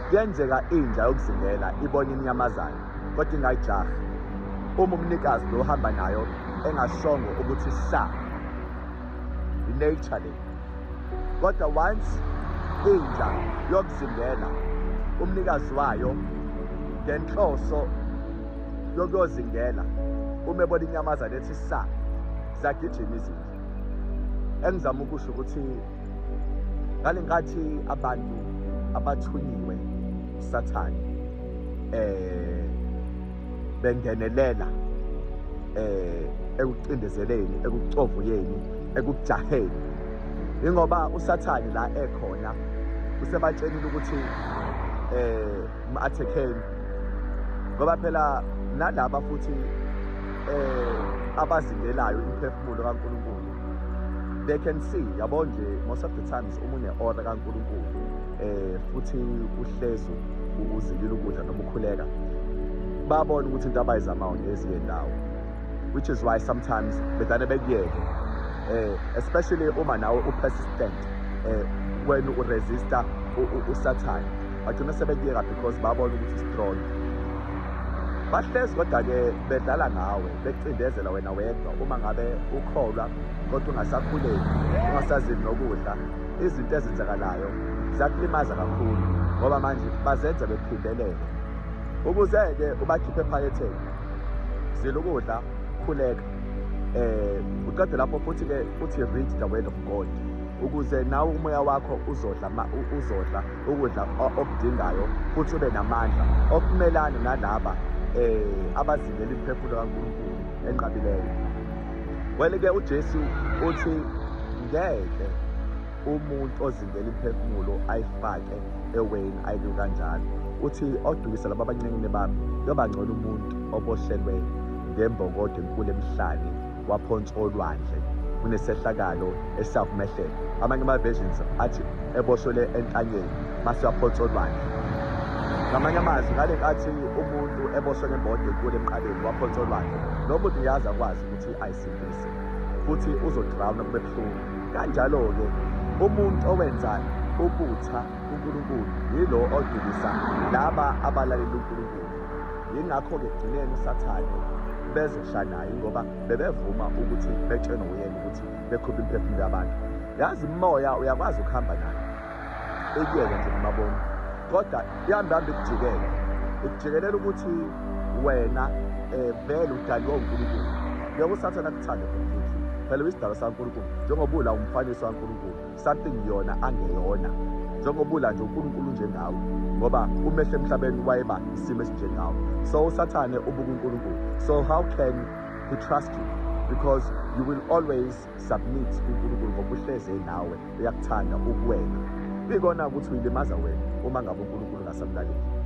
Kuyenzeka inja yokuzingela ibone inyamazane kodwa ingayijahi uma umnikazi lo uhamba nayo engashongo ukuthi sa i-nature le kodwa once inja yokuzingela umnikazi wayo ngenhloso yokuyozingela uma ebona inyamazane ethi sa zagijima izinja engizama ukusho ukuthi ngale nkathi abantu abathunyiwe sathane eh bengenelela eh ekucindezeleni ekucovuyeni ekujaheni ingoba usathane la ekhona usebatshenile ukuthi eh ma-athekeni ngoba phela nalaba futhi eh abazingelayo imphefumulo kaNkulunkulu they can see yabo nje most of the times uma une-ora kankulunkulu um futhi uhlezi uzilile ukudla noma ukhuleka babona ukuthi into abayizamayo ngezinye ndawo which is why sometimes bedane bekuyeke um especially uma nawe upersistent um eh, when uresista usathane bagcina sebekuyeka because babona ukuthi strong bahlezi kodwa-ke bedlala ngawe bekucindezela wena wedwa uma ngabe ukholwa kodwa ungasakhuleki ungasazini nokudla izinto ezenzakalayo ziyakulimaza kakhulu ngoba manje bazenza bephindelele ukuze-ke ubakhiphe ephaketheni zila ukudla khuleka um uqede lapho futhi-ke uthi read the word of god ukuze nawe umoya wakho uzodla uzodla ukudla okudingayo futhi ube namandla okumelana nalaba um abazingela imiphefumulo kankulunkulu enqabileyo wele-ke ujesu uthi ngeke umuntu ozingela imiphefumulo ayifake eweni ayilu kanjalo uthi odukisa laba abancenkini bami yobangcono umuntu obohlelwe ngembokodo enkulu emhlane waphonswa olwandle kunesehlakalo eSouth Mehlen. Amanye ama-versions athi eboshwele entanyeni mase waphonswa olwandle. Ngamanye amazwi ngale nkathi umuntu eboshwe ngembodo enkulu emqaleni waphonswa olwandle, lo muntu uyazi akwazi ukuthi ayisindise futhi uzodrawuna kube buhlungu. Kanjalo-ke umuntu owenza ubutha uNkulunkulu yilo odukisa laba abalalela uNkulunkulu. yingakho-ke ekugcineni usathane bezosha naye ngoba bebevuma ukuthi betshenwe uyena ukuthi bekhuphe imiphefumulo yabantu yazi umoya uyakwazi ukuhamba naye ekuyeke nje ngamabona kodwa ihambe hambe ikujikele ikujikelele ukuthi wena um vele udaliwe unkulunkulu yokusathana kuthande phela uyisidalwa sankulunkulu njengoba ula umfanekiso kankulunkulu something yona angeyona njengobula nje uNkulunkulu njengawe ngoba umehle emhlabeni wayeba isimo esinjengawo so usathane ubuka uNkulunkulu so how can he trust you because you will always submit uNkulunkulu ngoba uhleze nawe uyakuthanda ukuwena bikona ukuthi uyilimaza wena uma ngabe uNkulunkulu ngasamlaleli